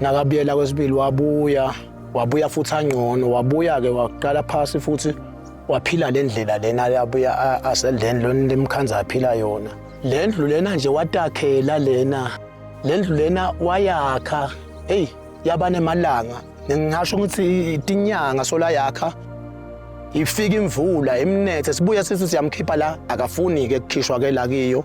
Nakabuyela kwesibili wabuya, wabuya futhi angcono, wabuya-ke waqala phasi futhi waphila le ndlela lena abuya aseleni lona lemkhanza aphila yona. Le ndlu lena nje watakhela lena, le ndlu lena wayakha, eyi yaba nemalanga, ngingasho ukuthi itinyanga sola yakha ifika imvula imnethe sibuye sithi siyamkhipha la akafuni-ke kukhishwa-ke la kiyo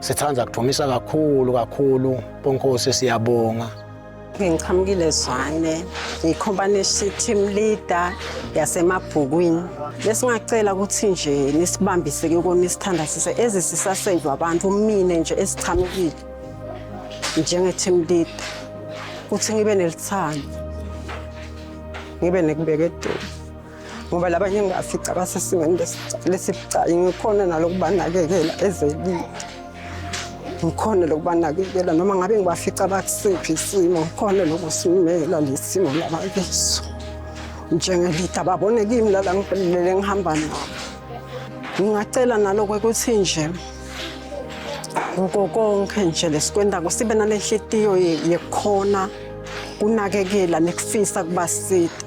Sithanda kudumisa kakhulu kakhulu Ponkosi siyabonga. Ngiqhamukile Zwane, ngikhompanishe team leader yasemabhukwini. Besingacela ukuthi nje nisibambise ke kona isithanda sise ezisisasave abantu umine nje esiqhamukile njenge team leader. Kuthi ngibe nelithando. Ngibe nekubeka eduze. ngoba laba ngingafica basesimeni lesibucayi ngikhona nalokubanakekela ezelile ngikhona lokubanakekela noma ngabe ngibafica bakusiphi isimo ngikhona lokusimela lesimo labakiso njengelida babone kimi lala ngiphelele ngihamba nabo ngingacela naloko ukuthi nje ngoko konke nje lesikwendako sibe nalenhlitiyo yekhona kunakekela nekufisa kubasita